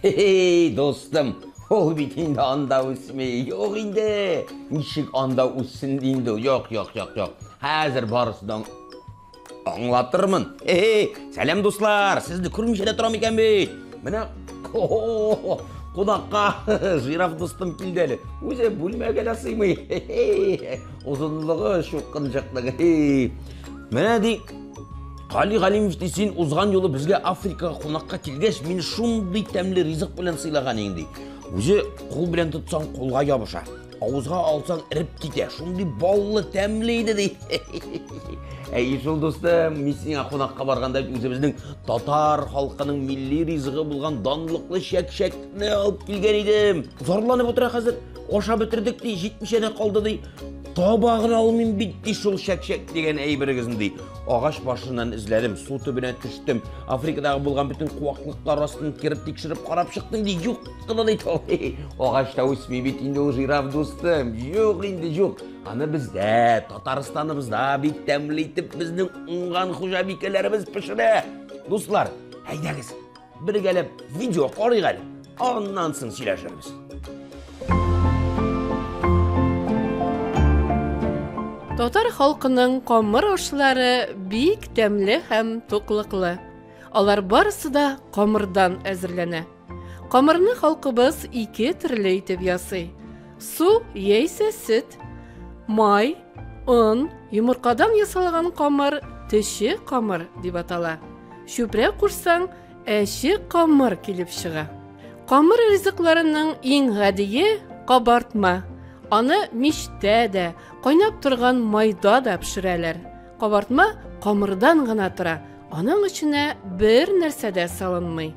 Хе-хей, достым, ул бит инде анда үсми. Юк инде. Ничек анда үссен инде? Юк, юк, юк, юк. Хәзер барысының аңлатырмын. Хе-хей, сәлам дуслар. Сезне күрмичә дә торам икән бит. Менә кунакка жираф дустым килде әле. Үзе бүлмәгә дә сыймый. Озынлыгы чукынчыклыгы. Менә ди Гали Галимов ди, син узган юлы безгә Африкага кунакка килгәч, мин шундый тәмле ризык белән сыйлаган идең ди. Үзе кул белән тотсаң, кулга ябыша. Авызга алсаң, эреп китә. Шундый баллы, тәмле иде ди. Әй, шул дустым, мин сиңа кунакка барганда үзебезнең татар халкының милли ризыгы булган данлыклы чәк-чәкне алып килгән идем. Зарланып утыра хәзер. Ашап бетердек ди, җитмичә дә калды ди. Табагын алмыйм бит ди шул чәкчәк дигән әйберегезне ди. Агач башыннан эзләдем, су төбенә төштем. Африкадагы булган бөтен куаклыклар астын кереп тикшереп карап чыктым ди. Юк кына ди. Агач та үсми бит инде ул жираф дустым. Юк инде юк. Аны бездә, Татарстаныбызда бик тәмле итеп безнең уңган хуҗабикәләребез пешерә. Дуслар, әйдәгез, Бергәләп видео карыйк әле. Аннан соң сөйләшербез. Татар халкының камыр ашлары бик тәмле һәм туклыклы. Алар барысы да камырдан әзерләнә. Камырны халкыбыз ике төрле итеп ясый. Су яисә сөт, май, Он, йомыркадан ясалган камыр, төче камыр дип атала. Чүпрә кушсаң, әче камыр килеп чыга. Камыр ризыкларының иң гадие кабартма. Аны мичтә дә, кайнап торган майда да пешерәләр. Кабартма камырдан гына тора, аның эченә бер нәрсә дә салынмый.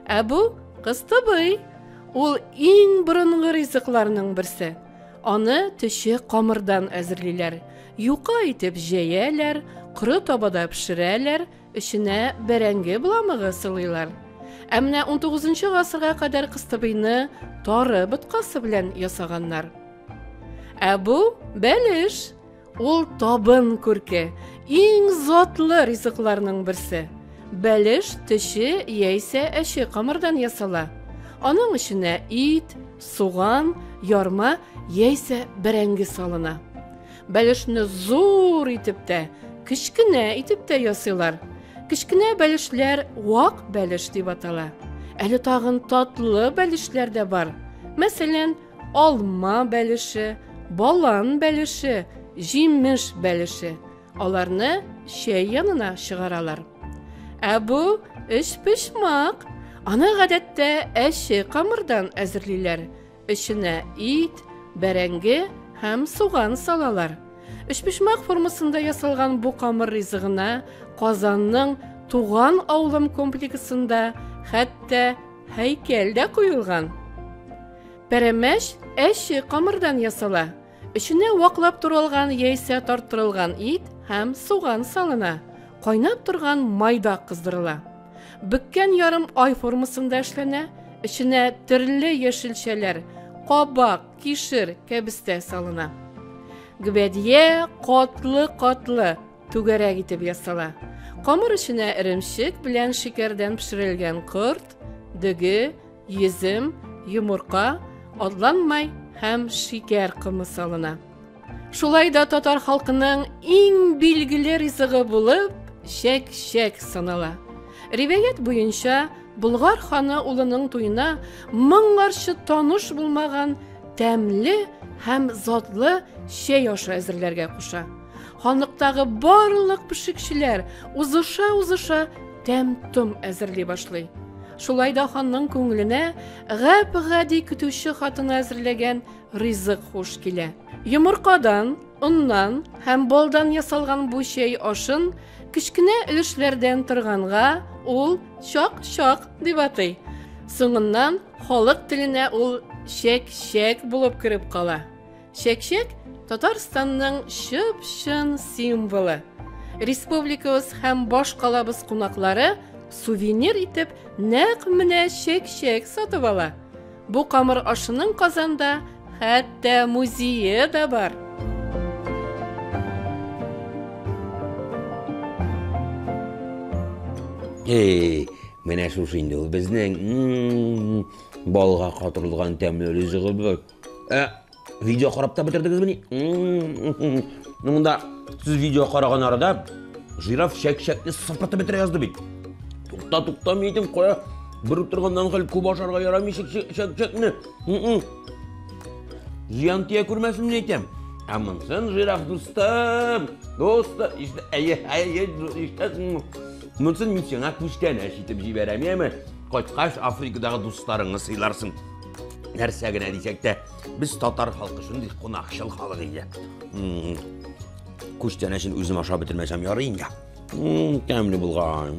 Ә бу кыстыбый. Ул иң борынгы ризыкларның берсе. Аны төче камырдан әзерлиләр. Юка итеп җәяләр, коры табада пешерәләр, эченә бәрәңге бламыгы сылыйлар. Ә менә 19 гасырга кадәр кыстыбыйны тары боткасы белән ясаганнар. Ә бу бәлеш. Ул табын күрке, иң затлы ризыкларның берсе. Бәлеш төче яисә әче камырдан ясала. Аның эченә ит, суган, ярма яисә бәрәңге салына. Бәлешне зур итеп тә, кечкенә итеп тә ясыйлар. Кечкенә бәлешләр вак бәлеш дип атала. Әле тагын татлы бәлешләр дә бар. Мәсәлән, алма бәлеше, балан бәлеше, җимеш бәлеше. Аларны чәй янына чыгаралар. Ә бу өчпочмак. Аны гадәттә әче камырдан әзерлиләр. Эченә ит, бәрәңге һәм суган салалар. Өчпочмак формасында ясалган бу камыр ризыгына Казанның Туган авылым комплексында хәтта Һәйкәл дә куелган. Пәрәмәч әче камырдан ясала. Эченә ваклап туралган яисә тарттырылган ит һәм суган салына. Кайнап торган майда кыздырыла. Бөккән ярым ай формасында эшләнә, эченә төрле яшелчәләр, кабак, кишер, кәбестә салына. Гвәдия катлы-катлы, Түгәрәк итеп ясала. Камыр эченә эремчек белән шикәрдән пешерелгән корт, дөге, йөзем, йомырка, адлан май һәм шикәр комы салына. Шулай да татар халкының иң билгеле ризыгы булып чәк-чәк санала. Риваять буенча, Болгар ханы улының туена моңарчы таныш булмаган тәмле һәм затлы чәй ашы әзерләргә куша. Ханлыктагы барлык пешекчеләр узыша-узыша тәм-том әзерли башлый. Шулай да ханның күңеленә гап-гади көтүче хатыны әзерләгән ризык хуш килә. Йомыркадан, оннан һәм болдан ясалган бу чәй ашын кечкенә өлешләрдән торганга ул чак-чак дип атый. Соңыннан халык теленә ул чәк-чәк булып кереп кала. Чәкчәк Татарстанның чып-чын символы. Республикабыз һәм башкалабыз кунаклары сувенир итеп нәкъ менә чәкчәк сатып ала. Бу камыр ашының Казанда хәтта музее да бар. Эй, менә шушы инде ул безнең балга катырылган тәмле ризыгыбыз. Ә видео карап та бетердегезмени? Монда сез видео караган арада жираф шәк-шәкне сыпыртып бетерә язды бит. Тукта, тукта, мидем кая? Бер утырганнан хәл күп ашарга ярамый шәк-шәкне. Зыян тия күрмәсен дип әйтәм. Ә монсын жираф дустым, дусты, иште, әйе, әйе, иштәсеңме? Монсын мин сиңа күчтәнәч итеп җибәрәм, яме? Кайткач Африкадагы дусларыңны сыйларсың. нәрсә генә дисәк тә без татар халкы шундый кунакчыл халык иде күчтәнәчен үзем ашап бетермәсәм ярый инде тәмле булган